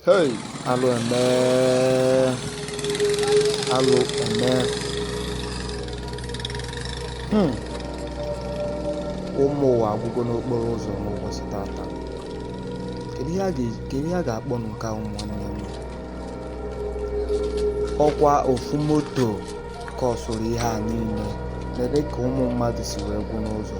Hey, alụ eme alụ eme hmm. ụmụ ụwa agwụgo n'okporo ụzọ n'ụbọchị tata kedu ihe a ga-akpọ nke a ụmụnne m ọkwa ofu moto kọsụrụ ihe a niile nene ka ụmụ mmadụ si wee gwụ n'ụzọ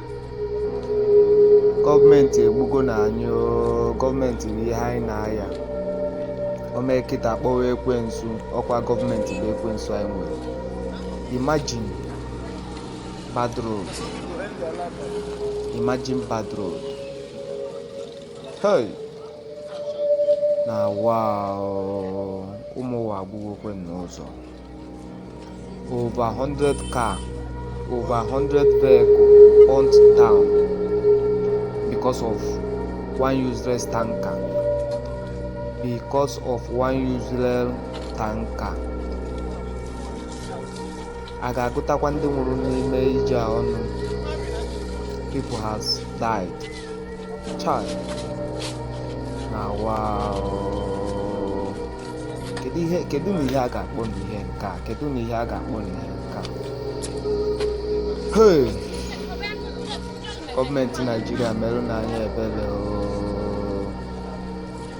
gọọmenti egbugonụ anyị oo gọọmenti bụ ihe anyị na-aya o mee kịta a kpọwa ekwensu ọkwa gọọmenti bụ ekwensu anyị nwere imagine bad road imagine bad road hey na wa o ụmụ ụwa agwụgokwe n'ụzọ Over 100 car, over 100 vehicle burnt down because of one useless tanker. Because of one useless tanker. A ga-agụtakwa ndị nwụrụ n'ime ije a ọnụ. People has died. Chai. Na wa o. kedu ihe kedunụ ihe a ga-akpọnụ ihe nke a kedunụ ihe a ga-akpọnụ ihe nke a hey gọọmenti naijiria merụnụ anyị ebere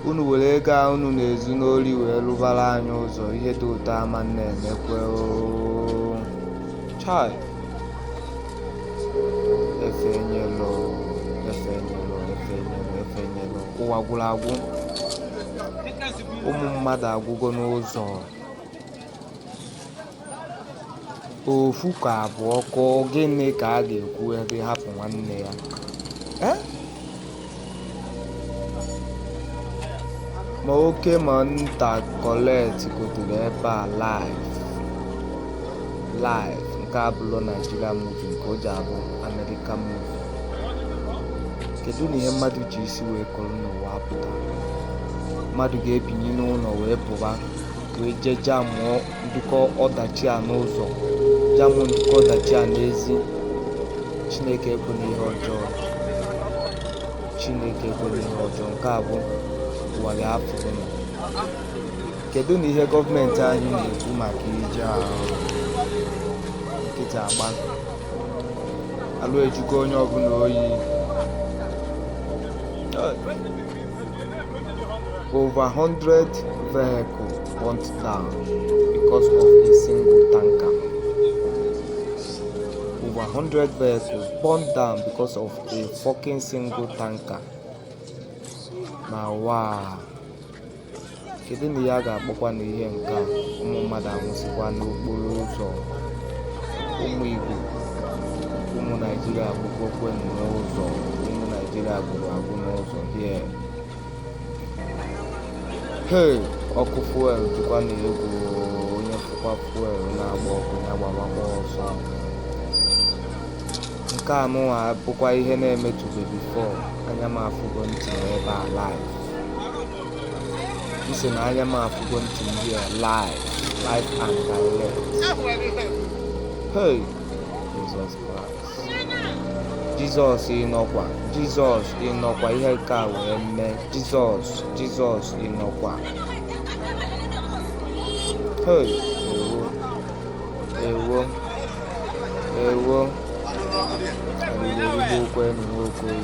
unu were ego a unu na-ezu n'ori wee rụbara anyị ụzọ ihe dị otu a ama na-emekwe chai efenyelụ efenyelụ efenyelụ efenyelụ ụwa gwụrụ agwụ ụmụ mmadụ agwụgo n'ụzọ ofu ka abụọ kụọ gịnị ka a ga-ekwube hapụ nwanne ya Eh? ma oke ma nta collide kọtara ebe a live live nke a abụrọ naijiria muvi nke o ji abụ amerika muvi kedunụ ihe mmadụ ji isi wee koro n'ụwa a pụta mmadụ ga-ebini n'ụlọ wee pụwa wee jee jamụọ nnukwu ọdachi a n'ụzọ jamụ nnukwu ọdachi a n'ezi chineke ekwena ihe ọjọọ chineke ekwena ihe ọjọọ nke a bụ ụwa ya afụrụ na kedunụ ihe gọọmenti anyị na-ekwu maka ije ahụ nkịtị agba alụ ejugo onye ọbụla oyi over 100 vehicle burnt down because of a single tanker over 100 vehicles burnt down because of a fucking single tanker na wow kedu na ihe a ga-akpọkwa na ihe nke a ụmụ mmadụ anwụsịkwa n'okporo ụzọ ụmụ igbo ụmụ naijiria agwụgokwe n'ụzọ ụmụ naijiria gwụrụ agwụ n'ụzọ here hei ọkụ fuel dịkwanụ egwu onye fụkwa fuel na-agba ọkụ ya gbawakwa ọsọ nke a nụnwa bụkwa ihe na-emetụbeghị before anya m afụgo ntị ebe a live m sị na anya m afụgo ntị ndị a live live and direct hey Jesus Christ Jizọs ị nọkwa Jizọs ị nọkwa ihe nke a wee mee Jizọs Jizọs ị nọkwa hey ewo ewo ewo arịrị erigbuokwa enyi nwoke oyi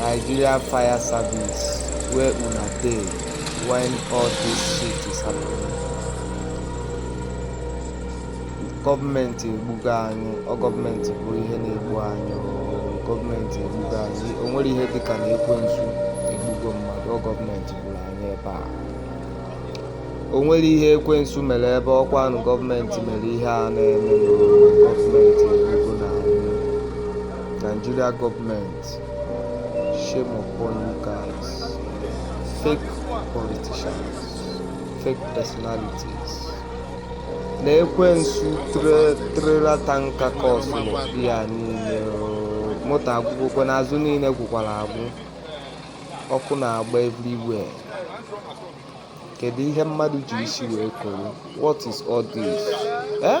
Nigeria fire service where una dey when all this shit is happening gọọmenti egbugo anyị ọ gọọmenti bụ ihe na-egbu anyị ọ gọọmenti egbugo anyị o nwere ihe dịka na ekwensu egbugo mmadụ ọ gọọmenti gburu anyị ebe a o nwere ihe ekwensu mere ebe ọkwanụ gọọmenti mere ihe a na-eme gọọmenti egbugo na Nigeria gọọmenti shame upon you guys fake politicians fake personalities na ekwensu trailer tanker cause ya niile moto agwụgokwa n'azụ niile gwụkwara agwụ ọkụ na-agba everywhere kedu ihe mmadụ ji isi wee koro what is all this eh?